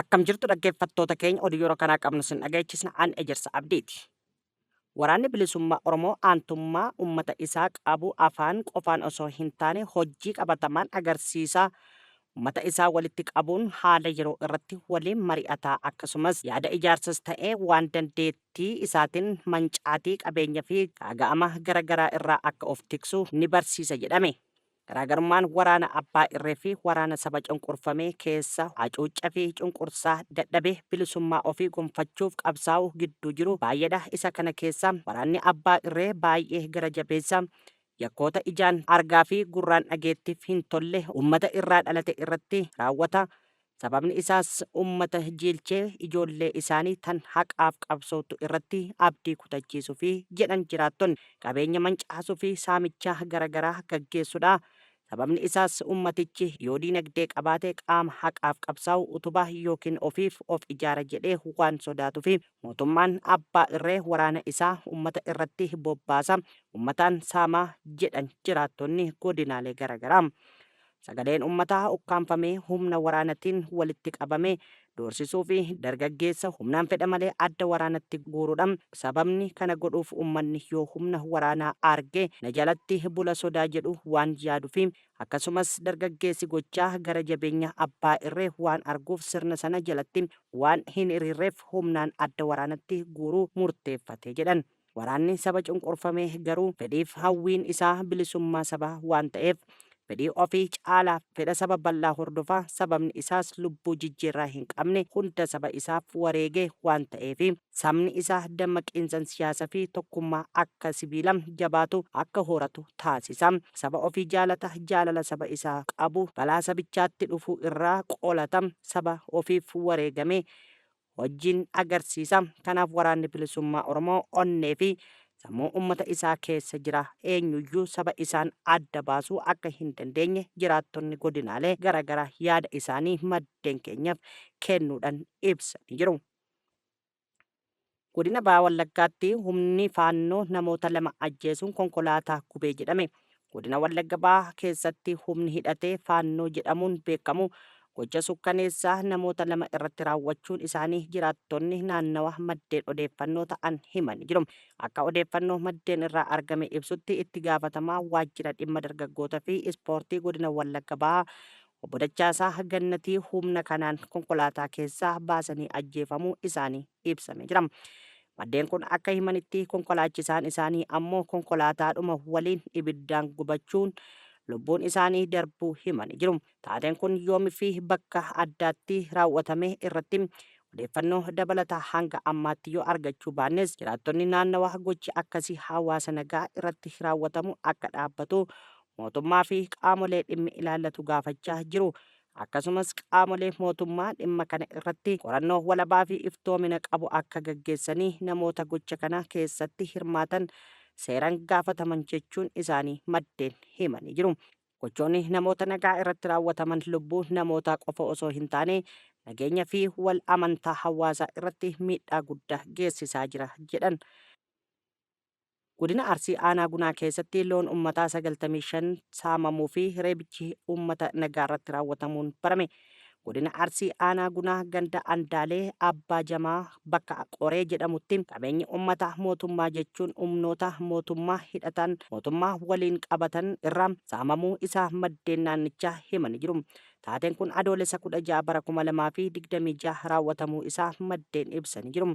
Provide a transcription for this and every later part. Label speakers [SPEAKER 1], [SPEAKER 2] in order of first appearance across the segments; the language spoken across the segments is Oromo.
[SPEAKER 1] Akkam jirtu dhaggeeffattoota keenya oduu yeroo kanaa qabnu sin dhageechisna an Ejersa Abdiiti. Waraanni Bilisummaa Oromoo aantummaa ummata isaa qabu afaan qofaan osoo hin taane hojjii qabatamaan agarsiisaa ummata isaa walitti qabuun haala yeroo irratti waliin mari'ataa akkasumas yaada ijaarsas ta'ee waan dandeettii tii isaatin mancaatii qabeenya fi gaaga'ama gara garaa irraa akka of tiksu ni barsiisa jedhame. Garaagarummaan waraana abbaa irree fi waraana saba cunqurfamee keessa hacuucca fi cunqursaa dadhabe bilisummaa ofii gonfachuuf qabsaa'u gidduu jiru baay'eedha isa kana keessa waraanni abbaa irree baay'ee gara jabeessa yakkoota ijaan argaa fi gurraan dhageettif hin tolle ummata irraa dhalate irratti raawwata Sababni isaas ummata jiilchee ijoollee isaanii tan haqaaf qabsoottu irratti abdii kutachiisufi jedhan jiraattonni. Qabeenya mancaasufi saamicha gara garaa gaggeessudha. Sababni isaas ummatichi yoo diinagdee qabaate qaama haqaaf qabsaa'u utuba ykn ofiif of ijaara jedhee waan sodaatufi. Mootummaan abbaa irree waraana isaa ummata irratti bobbaasa, ummataan saama jedhan jiraattonni godinaalee gara garaa. Sagaleen ummataa ukkaamfamee humna waraanatiin walitti qabame doorsisuu fi dargaggeessa humnaan fedha malee adda waraanatti guurudha. Sababni kana godhuuf ummanni yoo humna waraanaa arge na jalatti bula sodaa jedhu waan yaadufi. Akkasumas dargaggeessi gochaa gara jabeenya abbaa irree waan arguuf sirna sana jalatti waan hin hiriirreef humnaan adda waraanatti guuruu murteeffate jedhan. Waraanni saba cunqurfame garuu fedhiif hawwiin isaa bilisummaa sabaa waan ta'eef fedhii ofii caalaa fedha saba bal'aa hordofa, sababni isaas lubbuu jijjiirraa hin qabne hunda saba isaaf wareege waan ta'eefi. Sabni isaa dammaqiinsan siyaasa fi tokkummaa akka sibiila jabaatu akka horatu taasisa. Saba ofii jaalata, jaalala saba isaa qabu balaa sabichaatti dhufu irraa qolata, saba ofiif wareegame wajjin agarsiisa. Kanaaf Waraanni Bilisummaa Oromoo onnee fi sammuu ummata isaa keessa jira. Eenyuyyuu saba isaan adda baasuu akka hin dandeenye jiraattonni godinaalee gara garaa yaada isaanii maddeen keenyaf kennuudhan ibsanii jiru. Godina Baha Wallaggaatti humni Faannoo namoota lama ajjeesuun konkolaataa gubee jedhame. Godina Wallagga Bahaa keessatti humni hidhatee Faannoo jedhamuun beekamu gocha sukkaneessaa namoota lama irratti raawwachuun isaanii jiraattonni naannawa maddeen odeeffannoo ta'an himanii jiru. Akka odeeffannoo maddeen irraa argame ibsutti itti gaafatamaa waajjira dhimma dargaggoota fi ispoortii godina Wallagga Bahaa obbo Dachaasaa Gannatii humna kanaan konkolaataa keessaa baasanii ajjeefamuu isaanii ibsamee jira. Maddeen kun akka himanitti konkolaachisaan isaanii ammoo konkolaataadhuma waliin ibiddaan gubachuun lubbuun isaanii darbuu himanii jiru. Taateen kun yoomi fi bakka addaatti raawwatame irratti odeeffannoo dabalataa hanga ammaatti yoo argachuu baannes jiraattonni naannawaa gochi akkasii hawaasa nagaa irratti raawwatamu akka dhaabbatu mootummaa fi qaamolee dhimmi ilaallatu gaafachaa jiru Akkasumas qaamolee mootummaa dhimma kana irratti qorannoo walabaa fi iftoomina qabu akka gaggeessanii namoota gocha kana keessatti hirmaatan seeran gaafataman jechuun isaanii maddeen himanii jiru. Gochoonni namoota nagaa irratti raawwataman lubbuu namootaa qofa osoo hin taane nageenya fi wal amantaa hawaasaa irratti miidhaa guddaa geessisaa jira jedhan. Godina Arsii Aanaa Gunaa keessatti loon ummataa 95 saamamuu fi reebichi ummata nagaa irratti raawwatamuun barame. Godina Arsii Aanaa Gunaa ganda Andaalee Abbaa Jamaa bakka Qoree jedhamutti qabeenyi ummata mootummaa jechuun humnoota mootummaa hidhataan mootummaa waliin qabatan irraa saamamuu isaa maddeen naannichaa himanii jiru. Taateen kun Adoolessa 16 bara 2026 raawwatamuu isaa maddeen ibsanii jiru.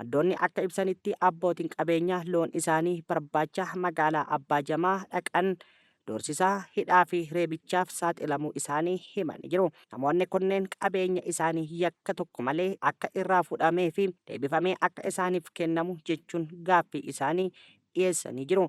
[SPEAKER 1] Maddoonni akka ibsanitti abbootiin qabeenyaa loon isaanii barbaacha magaalaa Abbaa Jamaa dhaqan doorsisaa, hidhaa fi reebichaaf saaxilamuu isaanii himanii jiru. Namoonni kunneen qabeenya isaanii yakka tokko malee akka irraa fudhamee fi deebifamee akka isaaniif kennamu jechuun gaaffii isaanii dhiyeessanii jiru.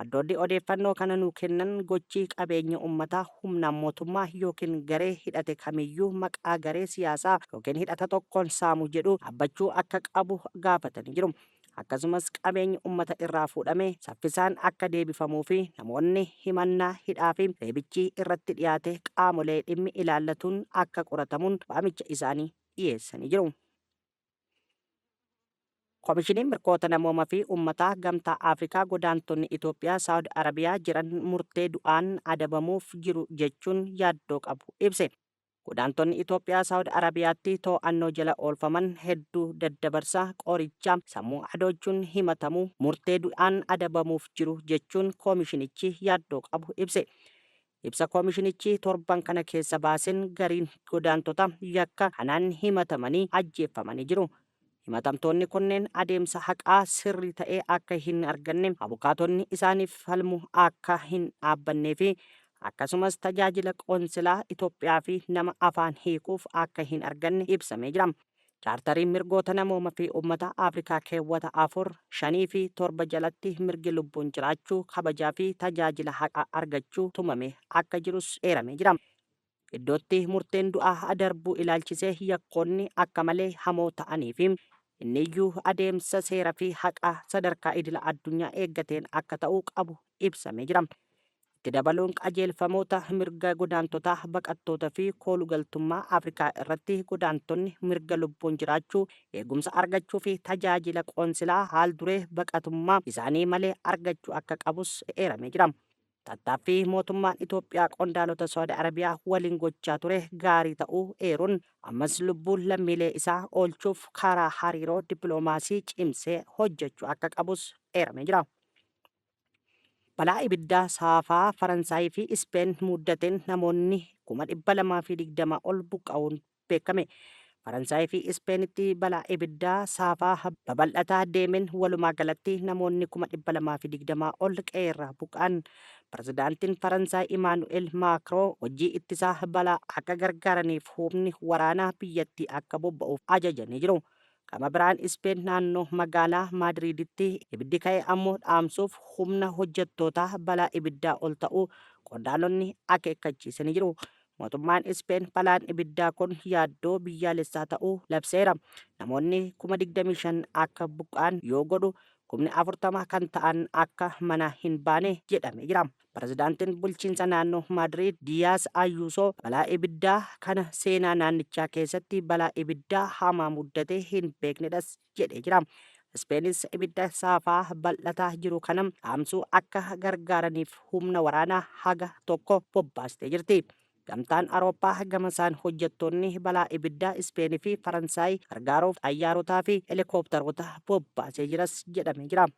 [SPEAKER 1] Maddoonni odeeffannoo kana nuu kennan gochi qabeenya ummataa humnaan mootummaa ykn garee hidhate kamiyyuu maqaa garee siyaasaa ykn hidhata tokkoon saamu jedhu dhaabbachuu akka qabu gaafatanii jiru. Akkasumas qabeenyi ummata irraa fuudhame saffisaan akka deebifamuu fi namoonni himannaa hidhaa fi reebichi irratti dhiyaate qaamolee dhimmi ilaallatuun akka qoratamuun waamicha isaanii dhiyeessanii jiru. Komishiniin Mirkoota Namooma fi Ummataa Gamtaa Afrikaa godaantonni Itoophiyaa Saawud Arabiyaa jiran murtee du'aan adabamuuf jiru jechuun yaaddoo qabu ibse. Godaantonni Itoophiyaa Saawud Arabiyaatti too'annoo jala oolfaman hedduu daddabarsa, qoricha sammuu adoochuun himatamu, murtee du'aan adabamuuf jiru jechuun komishinichi yaaddoo qabu ibse. Ibsa komishinichi torban kana keessa baasen gariin godaantota yakka kanaan himatamanii ajjeeffamanii jiru. Himatamtoonni kunneen adeemsa haqaa sirrii ta'e akka hin arganne, abukaatonni isaaniif falmu akka hin dhaabbannee fi akkasumas tajaajila qoonsilaa Itoophiyaa fi nama afaan hiikuuf akka hin arganne ibsamee jira. Chaartariin Mirgoota Namooma fi Ummata Afrikaa keewwata 4, 5 fi 7 jalatti mirgi lubbuun jiraachuu, kabajaa fi tajaajila haqaa argachuu tumamee akka jirus eeramee jira. Iddootti murteen du'aa darbuu ilaalchisee yakkoonni akka malee hamoo ta'anii fi inni iyyuu adeemsa seera fi haqaa sadarkaa idila addunyaa eeggateen akka ta'uu qabu ibsamee jira. Itti dabaluun qajeelfamoota mirga godaantotaa, baqattoota fi koolugaltummaa Afrikaa irratti godaantonni mirga lubbuun jiraachuu, eegumsa argachuu fi tajaajila qoonsilaa haal-duree baqatummaa isaanii malee argachuu akka qabus eeramee jira. Tattaaffii mootummaan Itoophiyaa qondaalota Saudi Arabiyaa waliin gochaa ture gaarii ta'uu eeruun, ammas lubbuu lammiilee isaa oolchuuf karaa hariiroo dippiloomaasii cimsee hojjechuu akka qabus eeramee jira. Balaa ibiddaa saafaa Faransaayii fi Ispeen muddateen namoonni 220,000 ol buqqa'uun beekame. Faransaayii fi Ispeenitti balaa ibiddaa saafaa babal'ataa deemeen walumaa galatti namoonni 220,000 ol qe'eerraa buqqa'an. Pirezidaantiin Faransaay Imaanu'eel Maakroo hojii ittisaa balaa akka gargaaraniif humni waraanaa biyyattii akka bobba'uuf ajajanii jiru. Gama biraan Ispeen naannoo magaalaa Maadriiditti ibiddi ka'e ammoo dhaamsuuf humna hojjettootaa balaa ibiddaa ol ta'uu qondaalonni akeekkachiisanii jiru. Mootummaan Ispeen balaan ibiddaa kun yaaddoo biyyaalessaa ta'uu labseera. Namoonni kuma 25 akka buqqa'an yoo godhu kumni 40 kan ta'an akka manaa hin baane jedhamee jira. Pirezidaantiin bulchiinsa naannoo Maadriid Diyaas Ayuusoo balaa ibiddaa kana seenaa naannichaa keessatti balaa ibiddaa hamaa muddatee hin beeknedhas jedhee jira. Ispeenis ibidda saafaa bal'ataa jiru kana dhaamsuu akka gargaaraniif humna waraanaa haga tokko bobbaastee jirti. Gamtaan Awurooppaa gamasaan hojjettoonni balaa ibiddaa Ispeenii fi Faransaay gargaaruuf xayyaarotaa fi helikooptaroota bobbaasee jiras jedhamee jira.